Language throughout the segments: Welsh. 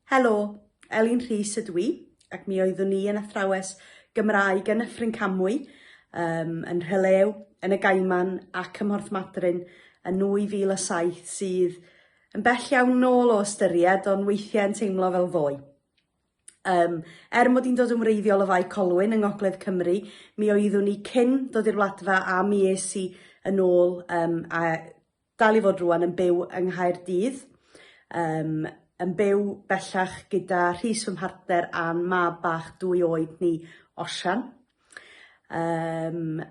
Helo, Elin Rhys ydw i, ac mi oeddwn i yn athrawes Gymraeg yn Nyffryn Camwy, um, yn Rhylew, yn y Gaiman ac ym Mhorth Madryn yn 2007 sydd yn bell iawn nôl o ystyried ond weithiau yn teimlo fel ddoe. Um, er mod i'n dod yn wreiddiol o Fai Colwyn yng Ngogledd Cymru, mi oeddwn i cyn dod i'r wladfa a mi es i yn ôl um, a Dal i fod rŵan yn byw yng Nghaerdydd. Yym, yn byw bellach gyda Rhys fy mhartner a'n mab bach dwy oed ni, Osian. Yym,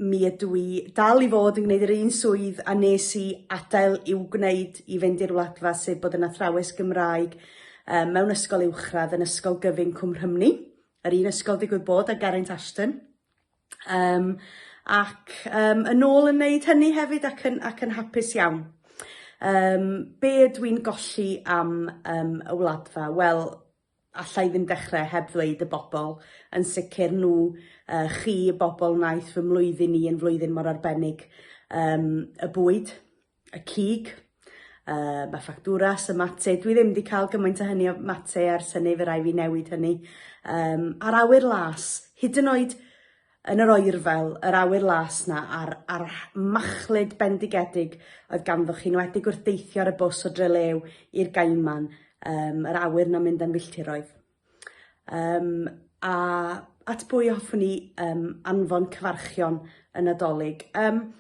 mi ydw i dal i fod yn gwneud yr un swydd a nes i adael i'w gwneud i fynd i'r Wladfa, sef bod yn athrawes Gymraeg um, mewn ysgol uwchradd yn Ysgol Gyfun Cwm Rhymni, yr un ysgol digwydd bod a Geraint Ashton. Yym ac yym yn ôl yn wneud hynny hefyd ac yn, ac yn hapus iawn. Um, be ydw i'n golli am um, y wladfa? Wel, allai ddim dechrau heb ddweud y bobl, yn sicr nhw, uh, chi, y bobl wnaeth fy mlwyddyn i yn flwyddyn mor arbennig, um, y bwyd, y cig, uh, mae ffactwras, y mate, dwi ddim wedi cael gymaint o hynny o mate ar syni fe rai fi newid hynny. Um, a'r awyr las, hyd yn oed yn yr oerfel, yr awyr las na, a'r, ar machlud bendigedig oedd ganddo chi, nwedig wrth deithio ar y bws o Drelew i'r Gaiman, um, yr awyr na mynd am filltiroedd. Um, a at bwy hoffwn ni um, anfon cyfarchion y Nadolig? Um,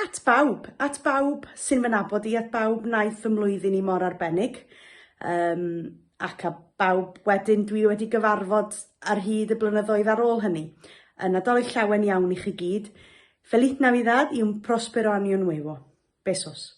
at bawb, at bawb sy'n fy nabod i, at bawb naeth fy mlwyddyn i mor arbennig. Um, ac a bawb wedyn dwi wedi gyfarfod ar hyd y blynyddoedd ar ôl hynny. Y Nadolig llawen iawn i chi gyd. Feliz Navidad y un prospero año nuevo. Besos.